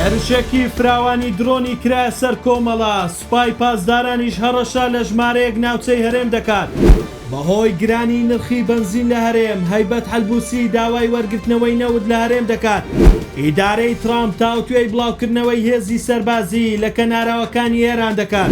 هێرشێکی فراوانی درۆنی کرایە سەر کۆمەڵە، سوپای پاسدارانیش هەڕەشە لە ژمارەیەک ناوچەی هەرێم دەکات. بەهۆی گرانیی نرخی بەنزین لە هەرێم، هەیبەت حەلبووسی داوای وەرگرتنەوەی نەوت لە هەرێم دەکات. ئیدارەی ترامپ تاوتوێی بڵاوکردنەوەی هێزی سەربازیی لە کەناراوەکانی ئێران دەکات.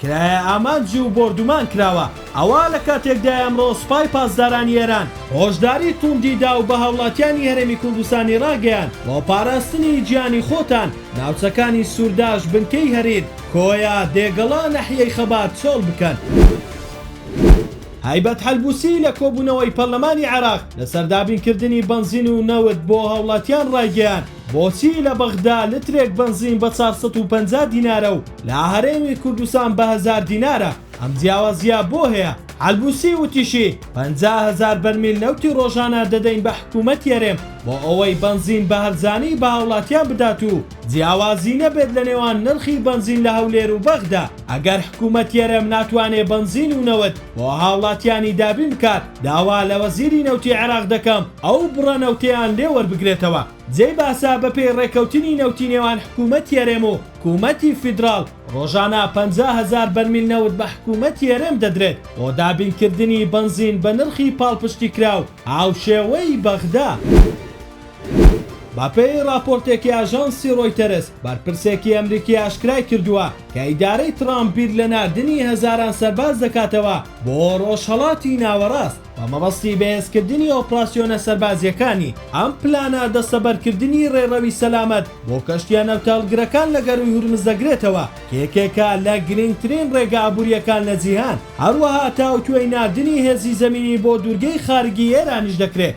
کرایە ئامانج و بۆردومان کراوە. ئەوە لە کاتێکدایە ئەمڕۆ سوپای پاسدارانی ئێران هۆشداری تووندی دا و بە هاوڵاتیانی هەرێمی کوردستانی ڕاگەیاند، بۆ پاراستنی گیانی خۆتان ناوچەکانی سوورداش، بنکەی هەریر، کۆیە، دێگەڵە، ناحیەی خەبات چۆڵ بکەن. هەیبەت حەلبووسی لە کۆبوونەوەی پەرلەمانی عێراق لەسەر دابینکردنی بەنزین و نەوت بۆ هاوڵاتیان ڕایگەیاند، بۆچی لە بەغدا لترێک بەنزین بە چار سەد و پەنجا دینارە و لە هەرێمی کوردستان بە هەزار دینارە، ئەم جیاوازییە بۆ هەیە؟ حەلبوسی وتیشی، پەنجا هەزار بەرمیل نەوتی رۆژانە دەدەین بە حکومەتی هەرێم بۆ ئەوەی بەنزین بە هەرزانی بە هاوڵاتیان بدات و جیاوازی نەبێت لە نێوان نرخی بەنزین لە هەولێر و بەغدا، ئەگەر حکومەتی هەرێم ناتوانێت بەنزین و نەوت بۆ هاوڵاتیانی دابین بکات، داوا لە وەزیری نەوتی عێراق دەکەم ئەو بڕە نەوتەیان لێ وەربگرێتەوە. جێی باسە بەپێی ڕێککەوتنی نەوتی نێوان حکوومەتی هەرێم و حکوومەتی فیدراڵ، ڕۆژانە پەنجا هەزار بەرمیل نەوت بە حکوومەتی هەرێم دەدرێت بۆ دابینکردنی بەنزین بە نرخی پاڵپشتیکراو هاوشێوەی بەغدا. بەپێی ڕاپۆرتێکی ئاژانسی ڕۆیتەرز، بەرپرسێکی ئەمریکی ئاشکرای کردووە کە ئیدارەی ترامپ بیر لە ناردنی هەزاران سەرباز دەکاتەوە بۆ ڕۆژهەڵاتی ناوەڕاست بە مەبەستی بەهێزکردنی ئۆپراسیۆنە سەربازییەکانی، ئەم پلانە دەستەبەرکردنی ڕێڕەوی سەلامەت بۆ کەشتییە نەوتهەڵگرەکان لە گەرووی هورمز دەگرێتەوە کە یەکێکە لە گرنگترین ڕێگە ئابوورییەکان لە جیهان، هەروەها تاوتوێی ناردنی هێزی زەمینی بۆ دوورگەی خارگی ئێرانیش دەکرێت.